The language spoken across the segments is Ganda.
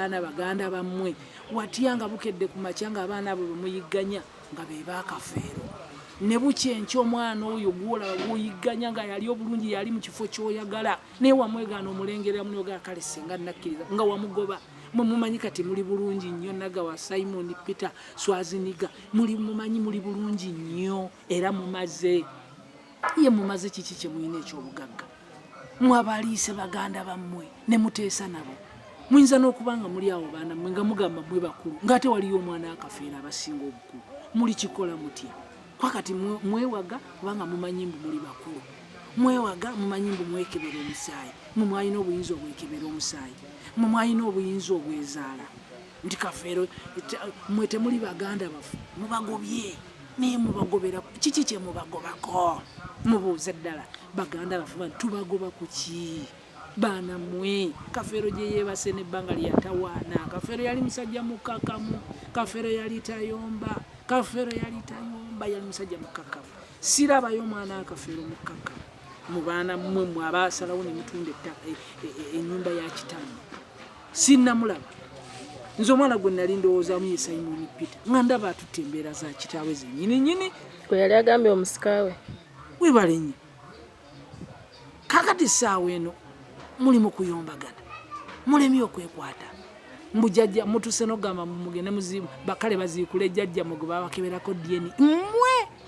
abaana baganda bammwe watya nga bukedde ku makya nga abaana abo bemuyigganya nga be baakafeero ne bukya enkya omwana oyo gwolaba gwoyigganya nga yali obulungi yali mu kifo kyoyagala naye wamwegaana omulengeramu nogaa kale singa nakkiriza nga wamugoba mwe mumanyi kati muli bulungi nnyo nagawa simon peter swaziniga muli mumanyi muli bulungi nnyo era mumaze ye mumaze kiki kyemulina ekyobugagga mwabaliise baganda bammwe ne muteesa nabo muyinza n'okuba nga muli awo baana mmwe nga mugamba mwe bakulu ng'ate waliyo omwana akafeera abasinga obukulu muli kikola mutya kwakati mwewaga kubanga mumanyi mbu muli bakulu mwewaga mumanyi mbu mwekebera omusaayi mwe mwalina obuyinza obwekebera omusaayi mwe mwalina obuyinza obwezaala nti kafeero mwe temuli baganda bafu mubagobye naye mubagobera kiki kyemubagobako mubuuze ddala baganda bafu ba tubagoba ku ki baana mwe kafeero gye yeebase nebbanga lyatawaana kafeero yali musajja mukakamu kafeero yali tayomba kafeero yali tayomba yali musajja mukakamu sirabayo omwana akafeero mukakamu mu baana mmwe mwe abaasalawo ne mutunda e, e, e, ennyumba ya kitamu sinnamulaba nze omwana gwe nali ndowoozamu ye simoni peter nga ndaba atutte embeera za kitaawe zenyini nyini gwe yali agambye omusikawe webale nyo kakati saawa eno muli mukuyombagana mulemi okwekwata mbu jajja mutuse nogamba mugende muzimu bakale baziikule jajja mwe gwe babakeberako dyeni mwe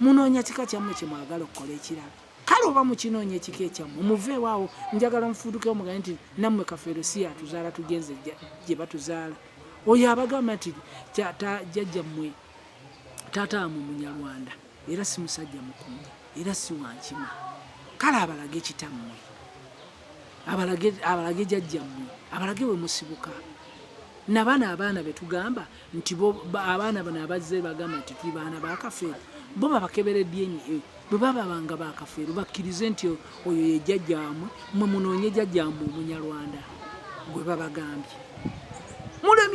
munoonya kika kyammwe kye mwagala okukola ekirala kale oba mukinoonya ekika ekyammwe muveewo awo njagala mufuutuke omugane nti nammwe kafeero si yatuzaala tugenze gye batuzaala oyo abagamba nti jajja mmwe taata amwe munyarwanda era si musajja mukunja era si wankima kale abalage kitammwe abalage jajja mmwe abalage we musibuka nabana abaana betugamba nti bo abaana bano abazze bagamba nti tuli baana ba kafeero bo babakebere dna e. bwe bababanga ba kafeero bakkirize nti oyo ye jjajjaamwe mwe munoonye jjajjaamwe omunyarwanda gwe babagambye